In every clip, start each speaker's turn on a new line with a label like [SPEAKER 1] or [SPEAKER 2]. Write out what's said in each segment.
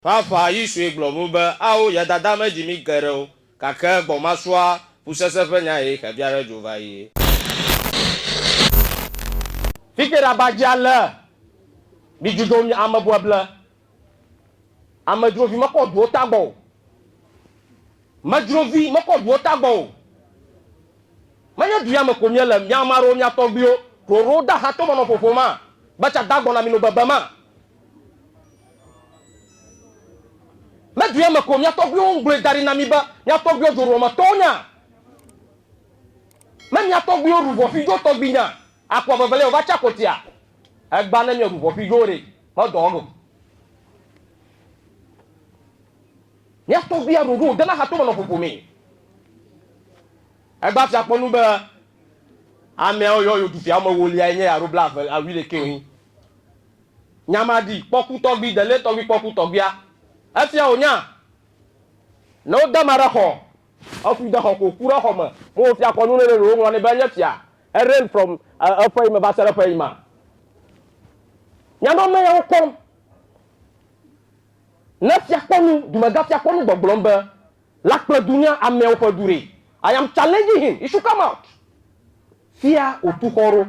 [SPEAKER 1] Ƒaƒã ɣi sue gblɔ ŋu be, Ao, ya dada me dzi mí ke ɖe wo, gake gbɔ ma sua, ƒusese ƒe nya ye xe bia ɖe dzo va ɣi. Fike ɖa ba dzi ale, mi dzudo mi ame bueble, amedzrovi me kɔ duwo tagbɔ o, medzrovi me kɔ duwo tagbɔ o, menye du ya me ko mi ele, mi ame aɖewo, mia tɔgbiwo, ɖoɖo da ha to me nɔ ƒoƒo ma, be tsa dagbɔ na mi no bebe ma, Le dua me ko mia tɔgbuiwo ŋugblɔe da ɖi na mi be mia tɔgbuiwo dzoɖuwɔmetɔwo nya. Ne mia tɔgbuiwo ɖu ʋɔƒidzowo tɔgbi nya, akua veveliae wòva tsa kotia? Egbea ne mieɖu ʋɔƒidzowo ɖe, medɔ enu o. Mia tɔgbuia ɖoɖo wòde na hatome nɔ ƒoƒo mee. Egbea fia kpɔ nu be ameawo yɔ yewo du fia woamewoliae nye ya alo blaeve, wuiɖekɛ wonyi. Nyamadi kpɔku tɔgbi dele tɔgbi kpɔku tɔgbia efia wò nya ne wo dama ɖe xɔ eku de xɔ ko ku ɖe xɔ me me wo fia kɔnu nene ɖewo ŋlɔ ne be enye fia e reign from eƒe yi me va se ɖe eƒe yi ma nyama me ya wo kɔm ne fia kɔnu dumega fia kɔnu gbɔgblɔm be la kple dunya amewo ƒe du re i am challenging him he should come out fia otu xɔ ɖo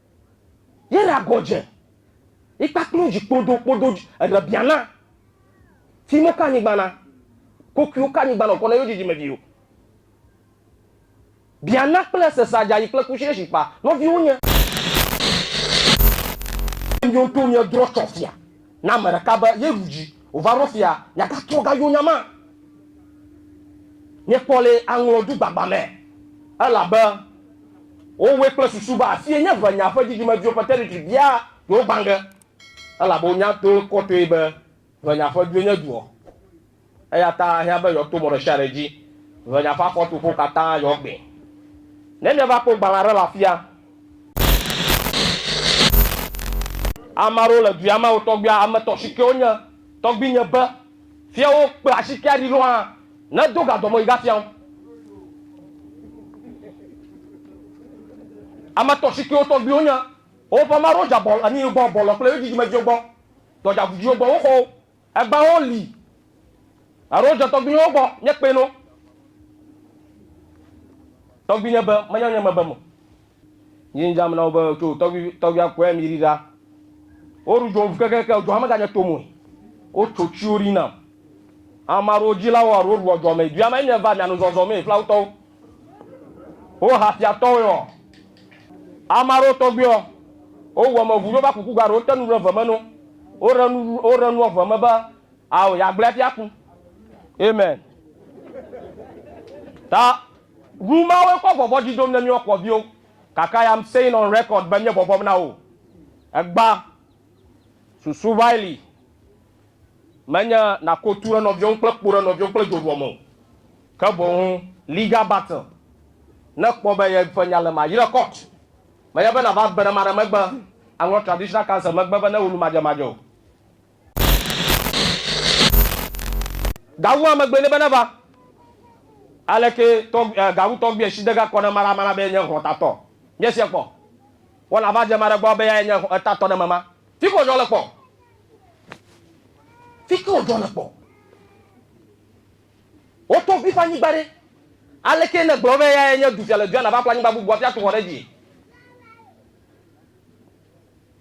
[SPEAKER 1] Ye ra gɔ dze yi kpakpli wo dzi kpodo kpodo dzi eɖe bia na ti mo ka anyigba na kokuiwo ka anyigba na kɔ na yo dzidzi me viwo. Bia na kple ese sa dza yi kple kushi eshi kpa nɔ viwo nye. Miwo ŋutɔ mia drɔ tsɔ fia na ame ɖeka be ye ɖu dzi. Wova ɖo fia miagatrɔ gayo nya ma miekpɔ le aŋlɔ du gbagba me elabe wowɔe kple susu be afie nye ʋe nya ƒe dzidzimeviwo ƒe territory bia yewo gbã ge elabe wonya to kɔtɔe be ʋe nya ƒe due nye duɔ eya ta ahiã be yewoato mɔ ɖesiaɖe dzi ʋe nya ƒe afɔtoƒewo katã yewoagbɛ ne miava kpɔ gbalẽa ɖe le afia Ame aɖewo le dua me wo tɔgbuia ame tɔ si ke wonye tɔgbuinye be fia wo kpe asi ke aɖi ɖo hã ne do ga dɔme yi ga fia wo. Ame tɔ si ke wo tɔgbuiwo nye woƒe ame aɖewo dza bɔ anyi gbɔ bɔlɔ kple yo dzidzime dziwo gbɔ dɔdza gudziwo gbɔ wo xɔ wo Agbawo li alo dzɔ tɔgbuiwo gbɔ nye kpɛ no tɔgbuinye be menya nye mebe mo nyi dzam na wo be tso tɔgbui tɔgbuia kɔe mi ri ɖa wo ru dzom kekeke dzɔa me ganye to moe wo tso tsi wo ri nam amaɖo dzi la wo aɖo ru dzɔ me dua me nye va mia nu zɔzɔ me fla wotɔwo Wo ha fia tɔwɛ ɔ. Ama ɖewo tɔgbi ɔ, wo wu ame ŋu ɖo va kuku ga ɖe wo te nu ɖe ve me no. Wo ɖe nu wo ɖe nuɔ ve me be ao ya gblɛ hafi aku. Amen. Ta nu ma woe kɔ vɔvɔ dzi dom ne miɔ kɔ viwo. Kaka ya am saying on record be mie bɔbɔm na wo. Egba. Susu va yi li. Menye nàko tu ɖe nɔviwò ŋu kple kpo ɖe nɔviwò ŋu kple dzoɖuɔ me o, ke boŋ li ga batɛ ne èkpɔ be yeƒe nya le ma. Yi ɖe court. Menye be nàva gbe ɖe ma ɖe megbe aŋlɔ traditional counsel megbe be ne wò nu madzemadze o. Gawu hã megbee nɛ be neva. Aleke tɔgb, eh, gawu tɔgbuiɛ si de ge kɔ ne ma ɖa ma na be yenye hlɔtatɔ? Míese kpɔ. Wɔna va dze ma ɖe gbɔ be yae nye etatɔ ɖe eme ma. Fike wòdzɔ le kpɔ. Fike wòdzɔ le kpɔ. Wotɔ ŋu ƒe anyigba ɖe. Aleke nègblɔ be eyae nye dufia le dua nàva ƒle anyigba bubua ƒe atu xɔ ɖe edzi?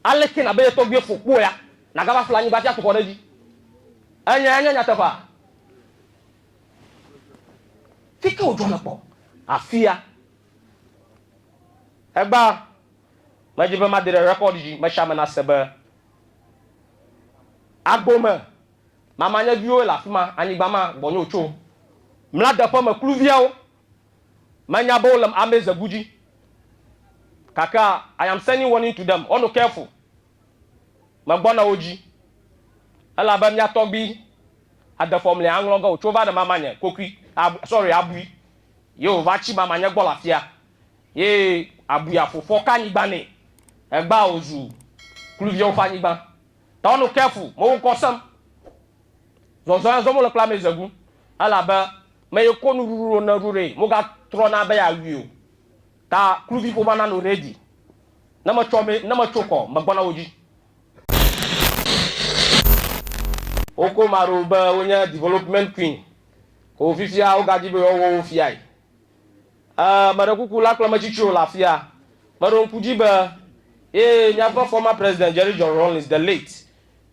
[SPEAKER 1] Aleke nàbe ye tɔgbuiwo fɔ kpɔ ya nàgava ƒle anyigba ƒe atu xɔ ɖe edzi? Enyae nye nyateƒea. Fike wòdzɔ le kpɔ. Afia. Egbea. Medi be made ɖe rekɔd dzi me sia me nase be agbo me mama nye viwo le afi ma, anyigba ma gbɔnye wotso. Mla deƒe me kluviawo. Menya be wole ame ze gu dzi. Gakea I am sending warning to them, wɔnu careful. Megbɔna wo dzi. Elabe mia tɔgbi ade fɔm le aŋlɔ ge wotso va ɖe mama nye kokui, sorry, abui. Ye wova tsi mama nye gbɔ le afia. Ye abuya ƒo ƒɔ ka nyigban nɛ egbea wòzu kluviawo ƒe anyigban. Tɔ nu ke fu mewo ŋkɔ sem. Zɔzɔ ya zɔ mole kple amɛ zegu elabe me ye ko nuɖuɖu ɖo ne ɖu ɖe moga trɔna be ya wui o. Ta kluvi ƒoma na nu ɖe dzi ne me tsɔ me ne me tso kɔ me gbɔna wo dzi. Wo ko ma ɖo be wo nye development queen ko fifia wo ga dzi be yewo wɔ wo fiae. Ẽ, meɖe kuku la kple metsi tsoe le afia. Meɖo ŋku dzi be, Ee, míaƒe former president Jerry John Rawlings, the late,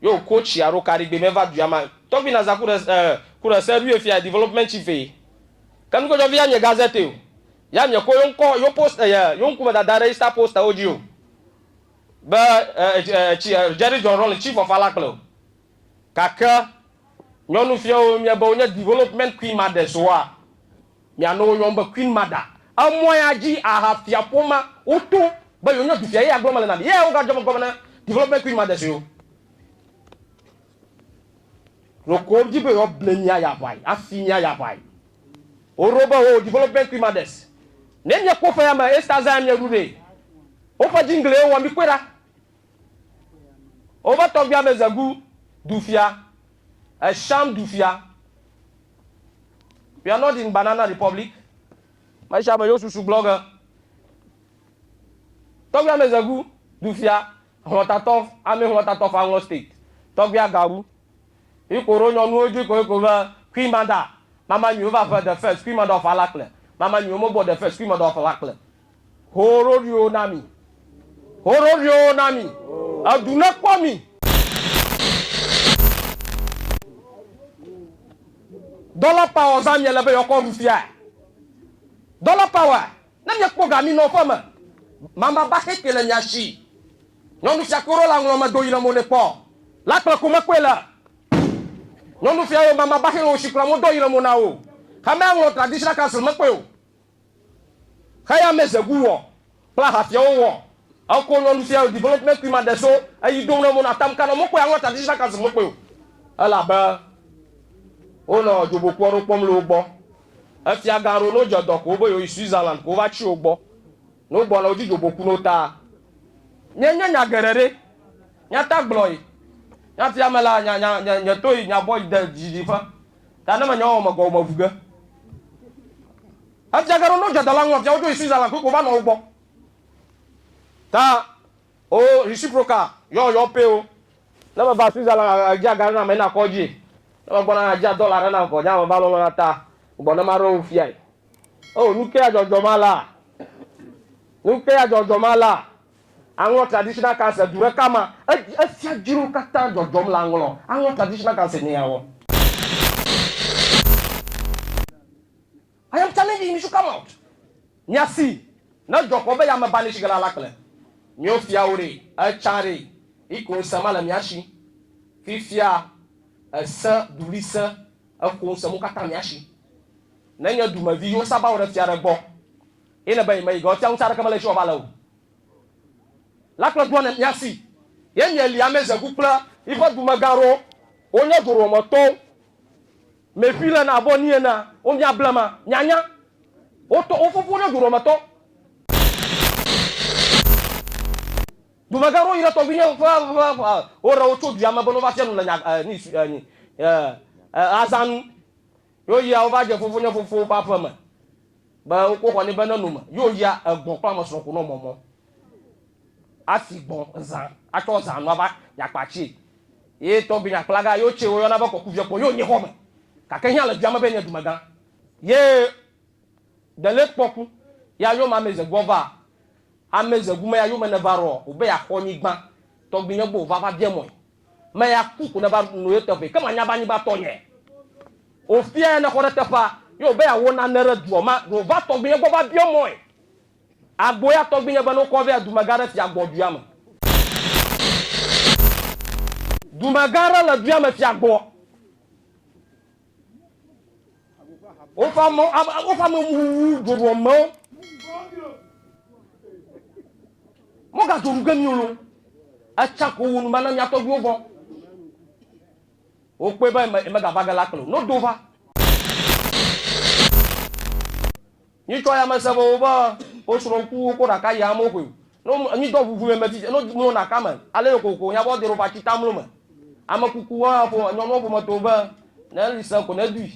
[SPEAKER 1] ye wòko tsia ɖo Karigbe me va dua me. Tɔgbi Naza ku ɖe, ẽ, ku ɖe se ɖoe fiae, development chief eye. Ke nukpɔtsɔvi ya nye Gazette o. Ya miekɔ ye ŋkɔ, ye post, eye ye ŋkume dada ɖe Easter posterwo dzi o be, ẽ, ẽ, ẽ, ẽ, tsi, ẽ, Jerry John Rawlings, chief of Alakple o. Gake nyɔnuviawo mia be wonye development queen mothers oa? Mia nɔ wo yɔm be queen mother. Emɔ ya dzi aha fia ƒomea wo to be yewo nye dufia ye ya gblɔ mele na mi. Ye wo ga dzɔ megbe na development queen mothers yewo. Ɖeko wo di be yewoa ble mia ya ʋai, afi mia ya ʋai. Wo ɖo be oo development queen mothers ne mia kpɔ ƒe ya me esta zã ya mia ɖu ɖee. Woƒe jingle ye wowɔ mi kpɔe ɖa. Woƒe tɔgbuia be Zegu dufia, Esham dufia. We are not in Banana Republic. Me sia me yewo susu gblɔ ge. Tɔgbuia be Zegu dufia, hlɔtatɔ, ame hlɔtatɔ fa hlɔ state. Tɔgbuia gawu. Iko ɖo nyɔnuwo dzi ko iko be Queen Mada, mama nyuiwo va ƒe the first Queen Mada of Alakple, mama nyuiwo mo gbɔ the first Queen Mada of Alakple. Ho ɖoɖoewo na mi. Ho ɖoɖoewo na mi. Edu nekpɔ mi. Dollar power zã miele be yeɔkɔ ɖu fia. Dollar power ne miekpɔ ga minɔ ƒe me. Mama ba xexe le mia shi. Nyɔnu fia koro la ŋlɔ me do yi le mo ne kpɔ. La kple ko mekpɔe le. Nyɔnu fia yo mama ba xexe wo shi kple mo do yi le mo na wo. Xamea ŋlɔ traditional council mekpɔe o. Xeyamezegu wɔ kple ahafiawo wɔ eko nɔ nufiawo development kui ma ɖe so eyi do nɔ mo nɔ atam kanɔ mokpɔe anɔ traditional council mokpɔe o elabe wo nɔ dzobokuɔ ɖo kpɔm le wo gbɔ efia gan ɖo no jedɔ ko wobe yewoyi Switzerland ko wova tsi wo gbɔ no gbɔ nɔ wo dzi dzoboku no ta Nye nye nya geɖe ɖe nya ta gblɔ yi nya fia me la nya nya nye to yi nya bɔ yi de dzi dzi ƒe Ta ne menya o mekɔ womeʋu ge. Efia ge ɖo no djadala ŋu efia wodzo yi Switzerland koe ko va nɔ wo gbɔ. Ta o reciprocal yɔ yɔ pay o. Ne me va Switzerland a djia ga ɖe na me na kɔ dji. Ne me gbɔna na djia dollar ɖe na kɔ dji ame va lɔlɔ na ta gbɔ ne ma ɖo wo fia yi. Oh nuke ya djɔdjɔ ma la? Nuke ya djɔdjɔ ma la? Aŋlɔ Traditional Council du ɖeka ma, efia dzro katã dzɔdzɔm le aŋlɔ Aŋlɔ Traditional Council mea wɔ. I am challenging you to come out mia si ne dzɔ kɔ be yame ba neshige la la kple mio fia wo ɖe etsa ɖe iko ŋse ma le mia shi fifia ese duli se eko ŋse mo katã mia shi ne nye dumevi yo saba wo ɖe fia ɖe gbɔ Ye le be yi me yi ge ɔtia ŋutsa ɖeke mele esi wɔba le o la kple ɖoa ne mia si. Ye mi eli ame ze gu kple yi ƒe dume gã ɖo wo nye doro me tɔwo me ƒi le na abɔ ni ene wo mia ble ma mia nya wo tɔ wo fofo nye doro me tɔ dume gã ɖo yi ɖe tɔgbi nye ƒe ƒe ƒe wo ɖe wo tso dua me be no va fia nu le nya eh, ni eh, eh, eh, azanu Yo yia wova dje fofonye fofo ƒe aƒe me be wokpo xɔ ne be ne nome. Yo yia egbɔn kple ame srɔ̃ konɔ mɔmɔ asi gbɔn zã atsɔ zã nua va yakpa tse. Ye tɔgbi nyakplaga yo tse woyɔna be kɔkuviɛ kpɔ yo nye xɔ me gake hia le dua me be nye dumegã. Ye dele kpɔ ku ya yo ma meze gbɔ va ameze gume ya yo me ne va rɔ obe ya xɔ nyigban tɔgbi nye gbɔ ova va biɛ mɔe. Me ya ku ku neva nu ye teƒe ke manya be anyigba tɔ nye. O fia ya ne xɔ ɖe teƒea ye o be ya wo nane ɖe duɔ ma ɖo va tɔgbi nye gbɔ va biɔ mɔe. Agbo ya tɔgbi nye be no kɔ vea dumegã ɖe fia gbɔ duya me. Dumegã ɖe le duya me fia gbɔ. Woƒe ame woƒe ame wu dzoɖuamewo. Mogadzo nu ge mi o. Etsa ko wo nu bana mia tɔgbuiwo vɔ. Wokpɔe be megava ge la kplɔ no do va. Nyi tɔ ya me se be wo be wo srɔ ŋku wo ko ɖaka ya mo xwe. No nyi dɔ ŋuŋu me me ti no mlo ɖaka me. Ale yo koko nya bɔ dero va ti ta mlo me. Ame kuku wo hã fo enyɔ no fo me to be ne li se ko ne dui.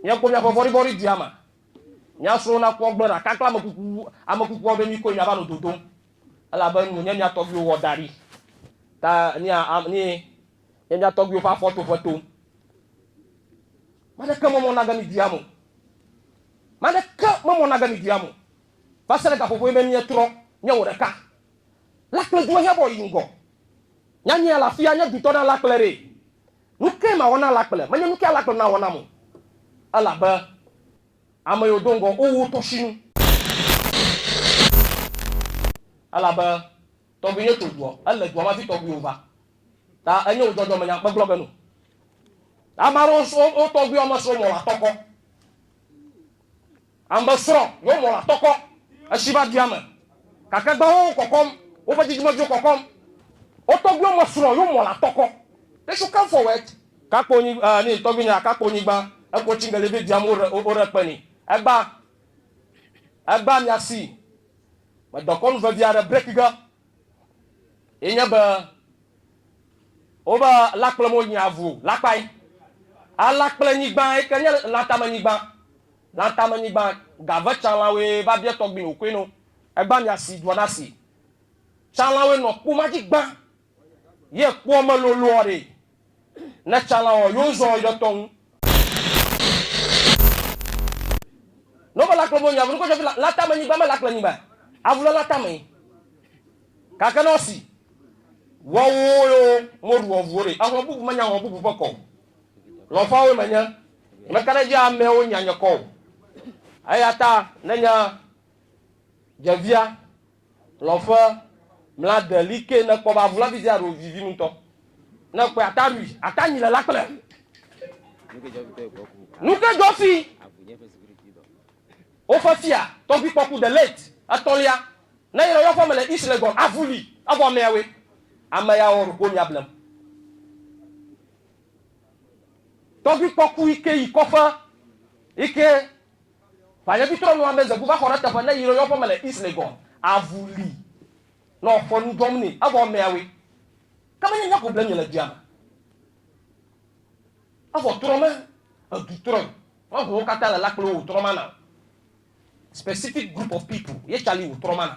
[SPEAKER 1] Mia ko mia ƒe vɔri vɔri dui ama. Mia srɔ na kpɔ gbe ɖaka kple ame kuku ame kuku wo be mi koe mia va no dodom. Elabe nu nye mia tɔgbi wo wɔ da ɖi. Ta ni a am ni nye mia tɔgbi wo ƒe afɔ to ƒe to. Made ke mɔ mɔ na ge mi dui amo. Ame aɖeke memɔ nage mi duyam o, va se ɖe gaƒoƒoe be mietrɔ nye wò ɖeka. Lakple due hebɔ yi ŋgɔ. Nyanyea le afia, nye dutɔ na lakple ɖee. Nukae mawɔ na lakple? Menye nukae alakple nawɔ nam o, elabe ame yiwo do ŋgɔ wo wu tɔsinu. Elabe Tɔgbi ye to dua. Ele dua me hafi tɔgbi wo va. Ta enye wo dzɔdzɔ me nya kpegblɔ be no. Ame aɖewo srɔ wo tɔgbi wo ame srɔ mɔ la tɔkɔ. Ambe srɔ yo mɔ la tɔkɔ. Eshi va dua me. Kake gba wo kɔkɔm. Wo ƒe dzidzime viwo kɔkɔm. Wo tɔgbi wo ame srɔ yo mɔ la tɔkɔ. They should come forward. Kakpo nyi eh ni tɔgbi nya kakpo nyigba eko tsi ngeli vi dua me wo re wo re kpe ni. Egba. Egba mia si. Medɔkɔnu vevi aɖe break ge ye nye be wobe lakple mo nyi avu lakpae. Alakple nyigba yi ke nye latame nyigba. Latame nyigba gave tsalãwoe va bia tɔgbui wòkoe no. Egba mia si dua na si. Tsalãwoe nɔ kpuma dzi gbã. Ye kpɔ me loloɔ ɖe. Ne tsala ɔ, yo zɔn yɔ tɔ ŋu. Ne wo be la kplɔ me nyi avu nukɔ jɔfi la tame nyigba me la kple nyigba avu le la tame. Gake ne ɔsi wɔ wo yo mo ɖu ɔvuwo ɖe, exlɔ bubu me nya xlɔ bubu ƒe kɔ o. Lɔfa woe me nye. Me ka ɖe dzi amɛ wo nya nye kɔ o. Eyata ne nya jevia Lɔ ƒe mla de li ke ne kpɔ ba vula bi dia ro vivi ŋutɔ. Ne kpɔ ata rui ata nyi le la kple. Nuke jɔfi woƒe fia tɔgbi kpɔku de late etɔlia ne yɔ yɔ ƒe me le ish le gɔn avuli avɔ mea we ame ya wɔ roko mia blem. Tɔgbi kpɔku ike yi kɔƒe ike Ʋanyɔditɔ nua be Zegu va xɔ ɖe teƒe ne yrɔ yɔƒe me le East Legon. Avu li nɔ ƒe nu dzɔm ni evɔ mɛawe ke menye nye ko ble nye le dua me evɔ trɔ me edu trɔe me ho wo kata le la kple wo trɔ mana o specific group of people ye cali wo trɔ mana.